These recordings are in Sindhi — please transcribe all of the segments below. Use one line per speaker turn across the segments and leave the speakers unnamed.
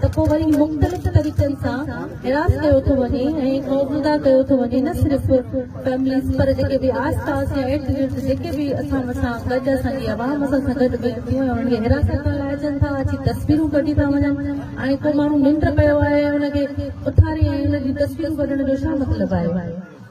ته پوء وري مختلف طريقن سان هراس ڪيو ٿو وڃي ۽ خوفزده ڪيو ٿو وڃي نه صرف فيمليز پر جيڪي به آس پاس يا ارد گرد جيڪي به اسان سان گڏ اسان جي عوام اسان سان گڏ ويهن ٿيون ۽ انهن کي حراست ڪرڻ لاء اچن ٿا اچي تصويرون ڪڍي ٿا وڃن ۽ ڪو ماڻهو ننڊ پيو آهي ان کي اٿاري ۽ ان جون تصويرون ڪڍڻ جو ڇا مطلب آهي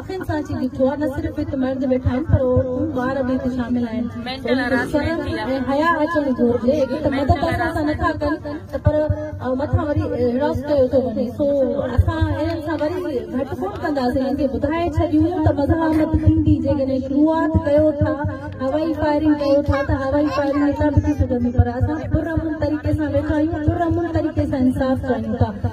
اکين سان اچي ڏٺو آ نه صرف هت مرد ويٺا آهن پر عورتون ٻار به هت شامل آهن مينٽل هراسمينٽ ٿي آ حيا اچڻ گهرجي هڪ ته مدد اسان سان نه ٿا ڪن ته پر مٿان وري هراس ڪيو ٿو وڃي سو اسان انهن سان وري گهٽ ڪون ڪنداسين انهن کي ٻڌائي ڇڏيون ته مزاحمت ٿيندي جيڪڏهن شروعات ڪيو ٿا هوائي فائرنگ ڪيو ٿا ته هوائي فائرنگ هتان به ٿي سگهندي پر اسان پرامن طريقي سان ويٺا آهيون پرامن طريقي سان انصاف چاهيون ٿا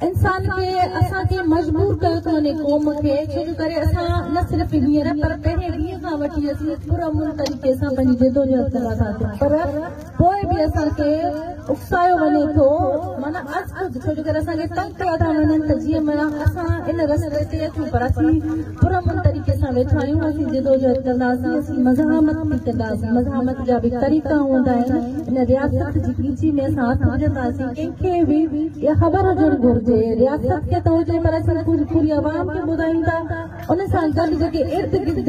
انسان کي اسان کي مجبور ڪيو ٿو وڃي قوم کي ڇو جو ڪري اسان نه صرف هينئر پر پهرين ڏينهن کان وٺي اسين پر امن طريقي سان پنهنجي جدوجهد ڪرا ٿا پر پوء به اسان کي اڪسايو وڃي ٿو مانا از خود ڇو جو ڪري اسان کي تنگ ڪيا ٿا وڃن ته جيئن مانا اسان ان رستي تي اچون پر اسين پرامن طريقي سان ويٺا آهيون اسين جدوجهد ڪنداسين اسين مزاحمت به ڪنداسين مزاحمت جا به طريقا هوندا آهن ان رياست جي ڳچي ۾ اسان هٿ وجهنداسين ڪنهن کي به اها خبر هجڻ گهرجي رياست کي ته هجي پر اسين پوري عوام کي ٻڌايون ٿا ان سان گڏ جيڪي ارد گرد